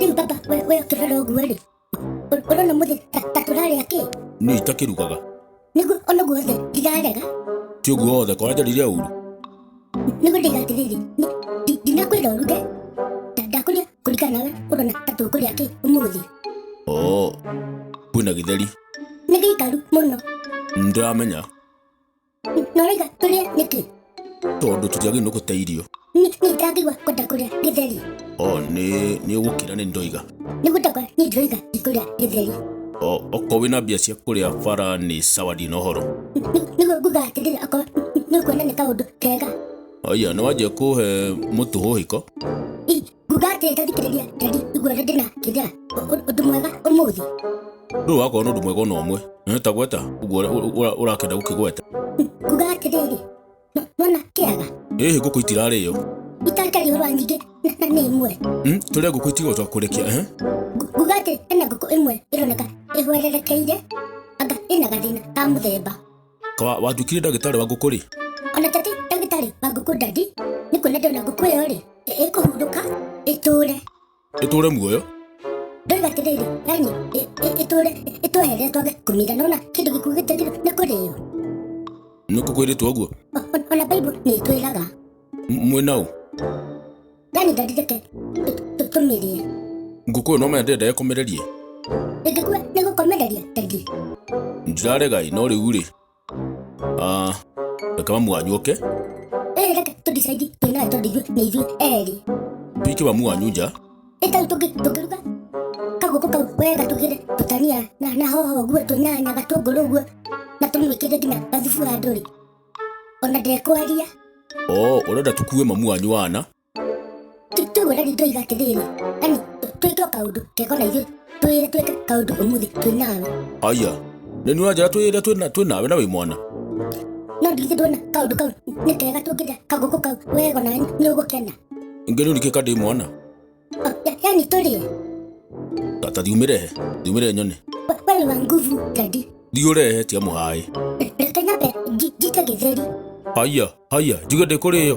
Rĩu baba, we we ũkĩrora ũguo rĩ, ũ- ũrona mũthĩ ta ta tũrarĩa kĩ? niĩ itakĩrugaga Nĩguo ona guothe ndirarega, ti ũguo wothe kora njarire ũru nĩguo ndĩga atĩrĩrĩ, ni- ndi- ndinakwĩra ũruge, nda- ndakũrĩa kũringana nawe ũrona ta tũkũrĩa kĩ ũmũthĩ. oo kwĩna gĩtheri Nĩ gĩikaru mũno, nĩndĩramenya Noraiga tũrĩe nĩkĩ? tondå tå tiagä no gå te irio Nĩ nĩ ndangĩgua kwenda kũrĩa gĩtheri. o nä nä å gå kä ra nä ndoiga Nĩ gũtakwa nĩ ndĩroiga ndikũrĩa gĩtheri. o okorwo wä na mbia cia kå rä a bara nä sawa ndina å horo Nĩ- Nĩguo nguga atĩrĩrĩ akorwo nĩ kuona nĩ kaũndũ kega. aya nä wanjä kå he må tå hå hä ko I- Ndũgatĩte thikĩrĩria Teddy igua ũrĩa ndĩna kĩnjara ũndũ mwega ũmũthĩ. Ndũĩ wakorwo na ũndũ mwega ona ũmwe. Nĩ ta gweta ũguo ũrĩa- ũrĩa ũrakĩenda gũkĩgweta. Kuga atĩrĩrĩ, "No- nona kĩaga Ĩhĩ ngũkũ itirarĩo. itakariũrwo rwa nyingĩ na- na nĩ imwe. Hmm? Tũrĩa ngũkũ itigotwa kũrekia. Eh? Ngu- Nguga atĩ ĩna ngũkũ ĩmwe ĩroneka ĩhwererekeire anga ĩna gathĩna ka mũthemba. Kawa, watuĩkire ndagĩtarĩ wa ngũkũ rĩ? Ona tati ndagĩtarĩ wa ngũkũ ndandi nĩ kuona ndona ngũkũ ĩyo rĩ ĩ- ĩkũhurũka ĩtũre Ĩtũũre muoyo? ndoiga atĩrĩrĩ yani ĩ- ĩ- ĩtũre ĩtwehere twage kũmira nona kĩndũ gĩkuũ gĩtagĩrwo nĩ kũrĩo Nĩ kũkwĩrĩtwo ũguo? O- o- ona baibo nĩ ĩtwĩraga mwĩna ũ Ndani ndandithĩke tũmĩrie. ngũkũyũ no mende ndege kũmĩrerie Ndĩngĩkua nĩ gũkomereria tagi. ndiraregai no rĩu rĩ Ah, reke mamu wanyu oke Ĩĩ reke tũdicaidi twĩnawe tondũ ithuĩ nĩ ithuĩ erĩ. pike mamu wanyu nja Ĩ tau tũngĩ tũngĩruga kagũkũ kau wega tũgĩre tũtania na na hoho ũguo tũnyanya gatũngũrũ ũguo na tũmĩkĩre nginya gathubu handũ-rĩ ona ndekwaria o ũrenda tũkue mamu wanyu wana tũgwĩra rĩu ndoiga atĩrĩrĩ ani twĩke o kaũndũ keko na ithuĩ twĩre twĩke kaũndũ ũmũthĩ twĩ nawe aya nĩ nĩ ũranjĩra twĩrĩa twĩna- twĩ nawe na wĩ mwana no ndigithĩ ndona kaũndũ kau nĩ kega tũngĩrĩa kagũkũ kau wega na nĩ ũgũkena ingĩ nĩ ũrikĩka ndĩ mwana yani tũrĩe Tata thiumĩrehe, thiumĩrehe nyone. We- we nĩ wa nguvu dadi Thiũrehe tia mũhaĩ. reke nyambe nji- njite gĩtheri Haya, haya, njuge ndĩkũrĩyo.